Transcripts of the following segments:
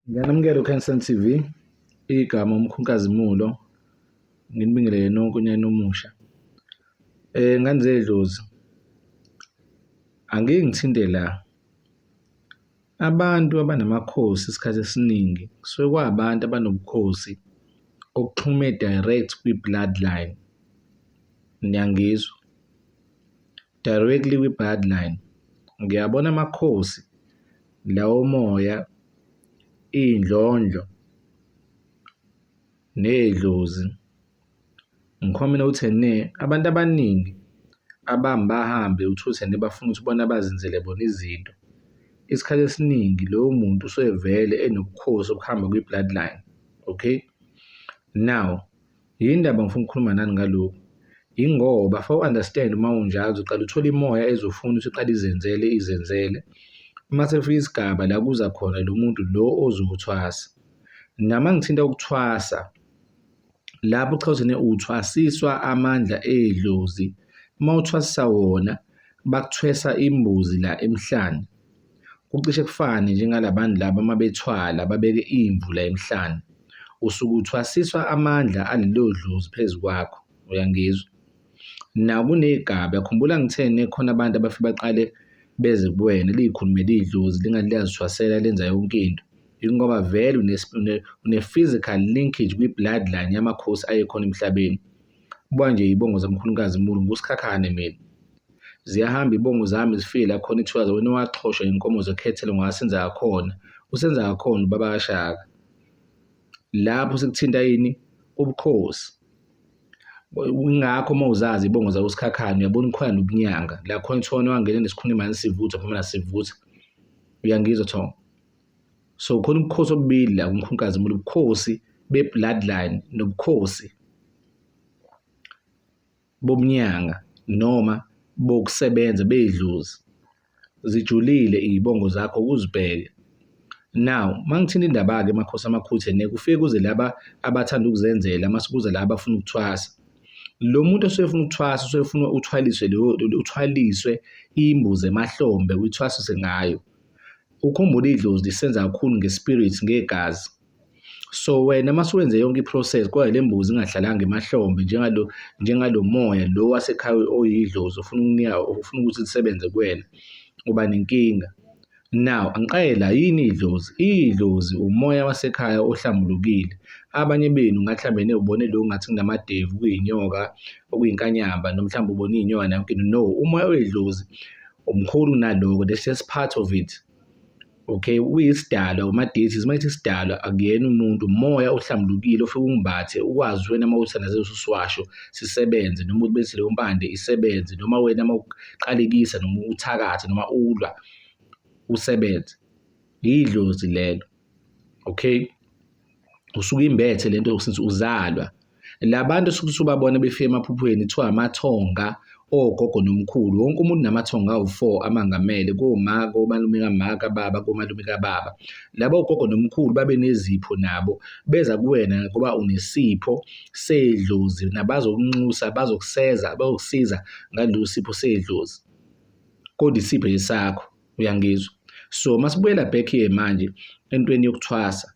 Ngiyanamukela uKhansan TV, igama uMkhunkazimulo, nginibingelele nonke unyaka omusha. Eh ngane zedlozi. Angeke ngithinte la. Abantu abanamakhosi isikhathi esiningi kusuke kwabantu abanobukhosi okuxhume direct kwi-bloodline. Niyangizwa? directly kwi bloodline ngiyabona amakhosi lawo moya iy'ndlondlo ney'dlozi ngikhomina ukuthi ne abantu abaningi abami bahambe uthuse ne bafuna ukuthi bona bazenzele bona izinto isikhathi esiningi lowo muntu usevele enobukhosi obuhamba kwi-bloodline okay now Yini ndaba ngifuna ukukhuluma nani ngalokhu? Yingoba for understand uma unjalo uzoqala uthole imoya ezofuna ukuthi iqale izenzele izenzele. Uma sefika isigaba la kuza khona lo muntu lo ozokuthwasa. Nama ngithinta ukuthwasa lapho cha uthene uthwasiswa amandla edlozi. Uma uthwasisa wona bakuthwesa imbuzi la emhlane. Kucishe kufane njengalabantu laba uma bethwala babeke imvu la emhlane. Usuke uthwasiswa amandla alelo dlozi phezu kwakho, uyangizwa? Nakuney'gaba, khumbula ngitheni khona abantu abafike baqale beze kuwena liyikhulumele idlozi lingathi liyazithwasela lenza yonke into. Yingoba vele une-physical linkage kwi-bloodline yamakhosi ayekhona emhlabeni. Buka nje iy'bongo zikaMkhulukazi Mulu, nguSikhakhane mina. Ziyahamba ibongo zami zifike la khona ithukaza wena owaxhoshwa inkomo zekhethelo ngwasenza yakhona usenza yakhona ubaba kaShaka lapho sekuthinta yini ubukhosi ingakho uma uzazi ibongo zakusikhakhane uyabona ikhona nobunyanga la khona ithona wangena nesikhunimani sivutha phuma nasivutha uyangizwa thongo so khona ubukhosi obubili la kumkhunkazi mulu ubukhosi be-bloodline nobukhosi bobunyanga noma bokusebenza beyidlozi zijulile iy'bongo zakho ukuzibheke now mangithinta indaba-ke emakhosi amakhuthe nekufike kuze laba abathanda ukuzenzela mase kuze laba abafuna ukuthwasa lo muntu osuke efuna ukuthwasa usuke efuna uthwaliswe uthwaliswe imbuzi emahlombe uyithwasise ngayo ukhumbule idlozi lisenza kakhulu ngespirit ngegazi So wena uma suwenze yonke i-process kodwa le mbuzi ingahlalanga emahlombe njengalo njengalo moya lo wasekhaya oyidlozi ofuna ukunika ofuna ukuthi lisebenze kuwena uba nenkinga. Now angiqale la yini idlozi? Idlozi umoya wasekhaya ohlambulukile. Abanye benu ngathi mhlambe newubone lo ngathi kunamadevu kuyinyoka okuyinkanyamba noma mhlawumbe ubone iy'nyoka nayo yonke into. No, umoya wedlozi umkhulu kunaloko, that's just part of it. okay uyisidalwa umadeities uma ithi isidalwa akuyena umuntu umoya ohlambulukile ofike ungibathe ukwazi wena uma uthandaze ususiwasho sisebenze noma ubenzise leyo mpande isebenze noma wena uma uqalekisa noma uthakathe noma ulwa usebenze yidlozi lelo okay usuke imbethe lento since uzalwa labantu osuke usubabona befika emaphuphweni kuthiwa amathonga ogogo nomkhulu wonke umuntu namathonga awu-four amangamele koma komalume kama kababa komalume kababa laba ogogo nomkhulu babe nezipho nabo beza kuwena ngoba unesipho sedlozi nabazokunxusa bazokuseza bazokusiza ngalolu sipho sedlozi kodwa isipho esakho. uyangizwa so masibuyela back here manje entweni yokuthwasa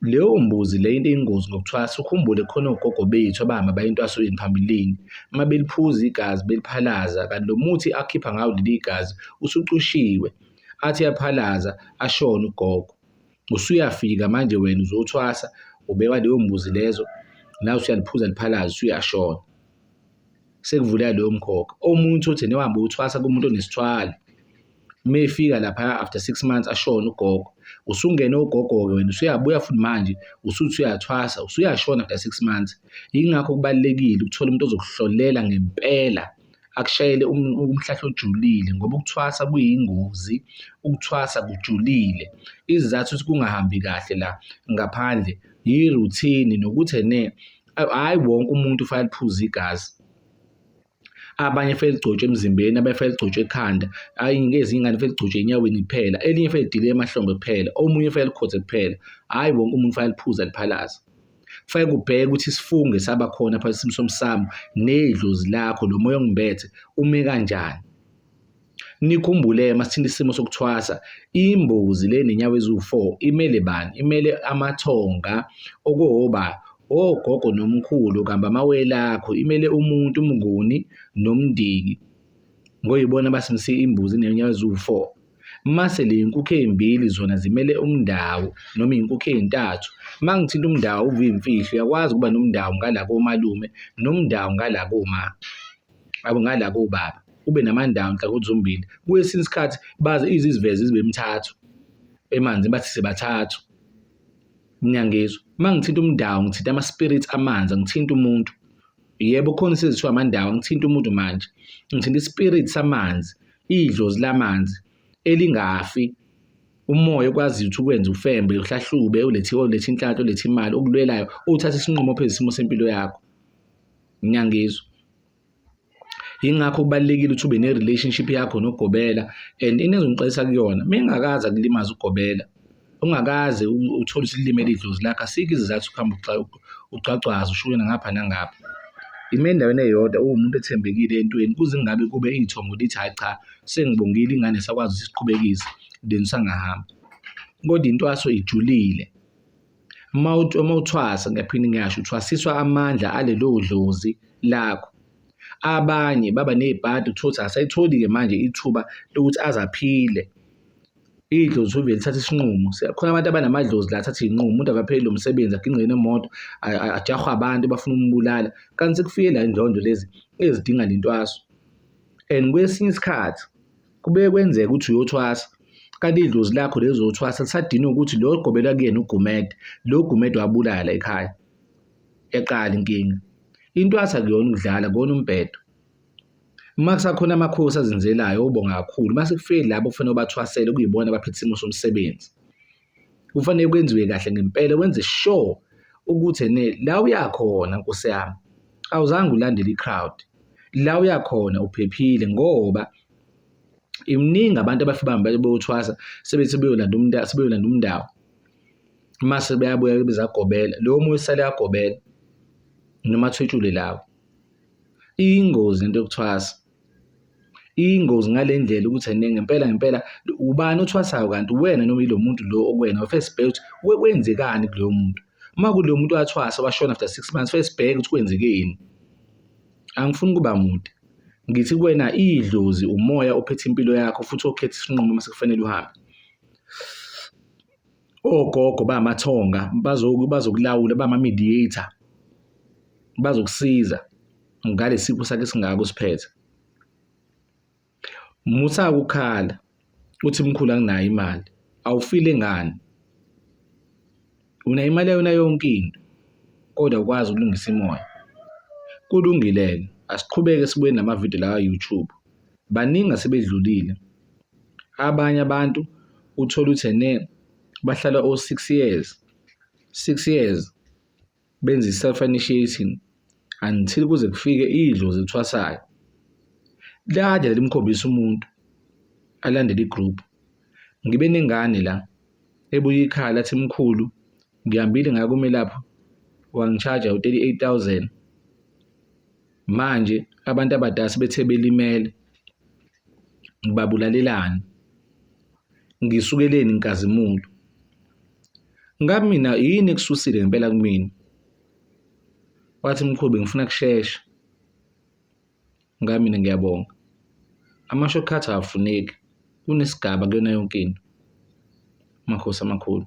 leyo mbuzi le into eyingozi ngokuthwasa ukhumbule khona ogogo bethu abahamba bayintwasweni phambilini uma beliphuza igazi beliphalaza kanti lo muthi akhipha ngawo leli gazi usucushiwe athi yaphalaza ashona ugogo usuyafika manje wena uzothwasa ubeka leyo mbuzi lezo nawe usuyaliphuza liphalaza usuyashona sekuvuleka leyo mkhokha omunye uthi newahamba uthwasa kumuntu onesithwalo uma efika lapha after six months ashona ugogo usungene ugogo-ke wena usuyabuya futhi manje usuthi uyathwasa usuyashona after six months yingakho kubalulekile ukuthola umuntu ozokuhlolela ngempela akushayele um, umhlahla ojulile ngoba ukuthwasa kuyingozi ukuthwasa kujulile izizathu ukuthi kungahambi kahle la ngaphandle yiruthini nokuthi ne hhayi wonke umuntu ufake liphuze igazi abanye fele ligcotshwe emzimbeni abanye fele ligcotshwe ekhanda ayi ngezinye ingane fele ligcotshwe enyaweni kuphela elinye fele lidile emahlombe kuphela omunye fele likhothe kuphela hhayi wonke umuntu fake liphuza liphalaza fake kubheke ukuthi isifunge saba khona phakathi esimsomi sami nedlozi lakho lo moya ongibethe ume kanjani Nikhumbule masithinta isimo sokuthwasa, imbuzi le nenyawo eziwu-four imele bani? Imele amathonga, okoba, ogogo nomkhulu kambe amawele akho, imele umuntu, umnguni nomndeni ngoba yibona abasimse imbuzi nenyawo eziwu-four. Mase le nkukhu ey'mbili zona zimele umndawu noma iy'nkukhu ey'ntathu. Uma ngithinta umndawu uvimfihlo uyakwazi ukuba nomndawu ngala komalume nomndawu ngala koma. abo ngala kobaba ube namandawo ngicela ukuthi zombili kwesinye isikhathi baze iziziveze zibe emithathu emanzi bathi sibathathu ngiyangizwa uma ngithinta umdawu ngithinta ama-spirit amanzi ngithinta umuntu yebo khona isezithiwa amandawu ngithinta umuntu manje ngithinta i-spirit samanzi idlozi lamanzi elingafi umoya okwaziyo ukuthi ukwenze ufembe uhlahlube ulethe ulethe inhlanhla ulethe imali okulwelayo uthathe isinqumo phezu isimo sempilo yakho ngiyangizwa yingakho kubalekile ukuthi ube ne relationship yakho nogobela and into ezongixolisa kuyona mengakaza kulimaza ugobela ungakaze uthole usilimele idlozi lakhe asikho izizathu ukuhamba ugcwagcwaza ushuke nangapha nangapha ime endaweni eyodwa uwumuntu ethembekile entweni kuze kungabe kube iy'thongo lithi hhayi cha sengibongile ingane sakwazi ukuthi siqhubekise then usangahamba kodwa intwaso ijulile. Uma uthi uma uthwasa ngiyaphinde ngiyasho uthwasiswa amandla alelo dlozi lakho. Abanye baba nezibhadi uthole ukuthi akasayitholi-ke manje ithuba lokuthi aze aphile. Idlozi usuke uvele uthathe isinqumo. Khona abantu abanamadlozi la athathe iy'nqumo, umuntu akapheli lo msebenzi agingqe nemoto, ajahwe abantu bafuna ukumubulala. Kanti sekufike la ey'ndlondlo lezi ezidinga le ntwaso and kwesinye isikhathi. Kubuye kwenzeke ukuthi uyothwasa kanti idlozi lakho lezothwasa lisadinwe ukuthi lo ogobela kuyena uGumede lo Gumede wabulala ekhaya eqala inkinga intwasa kuyona ukudlala kona umbhedo uma kusakhona amakhosi azenzelayo obonga kakhulu uma sekufike labo kufanele ubathwasele kuyibona abaphethe isimo somsebenzi. Kufanele kwenziwe kahle ngempela wenze sure ukuthi ene la uyakhona nkosi yami awuzange ulandele i-crowd la uyakhona uphephile ngoba imningi abantu abafika bahambe beyothwasa sebethi beyolanda umuntu sebeyolanda umndawo mase beyabuya bezagobela lo moya usale yagobela noma athwetshule lawo ingozi into yokuthwasa Iyingozi ngale ndlela ukuthi ena ngempela ngempela ubani othwasayo kanti uwena noma yilo muntu lo okuwena first bheke ukuthi kwenzekani kuloyo muntu. Uma kuloyo muntu wathwasa washona after six months first bheke ukuthi kwenzekeni. Angifuni ukuba mude. Ngithi kuwena idlozi umoya ophethe impilo yakho futhi okhetha isinqumo uma sekufanele uhambe. Ogogo bamathonga bazokulawula bama-mediator bazokusiza. ngalesipho sakhe singaka usiphethe musa ukukhala uthi mkhulu anginayo imali awufile ngani unayo imali yona yonke into kodwa ukwazi ukulungisa imoya kulungile asiqhubeke sibuye namavidiyo la YouTube baningi asebedlulile abanye abantu uthola uthene bahlala o6 years 6 years benza i-self initiating until kuze kufike idlozi elithwasayo kade lalimkhombisa umuntu alandele i-group ngibe nengane la ebuye ikhala athi mkhulu ngihambile ngakumelaphi wangishaja u-38000 Manje abantu abadala sebethe belimele ngibabulalelani ngisukeleni inkazimulo ngabe mina yini ekususile ngempela kumina wathi mkhubi ngifuna kushesha ngabe mina ngiyabonga ama-shortcut awafuneki kunesigaba kuyona yonke into amakhosi amakhulu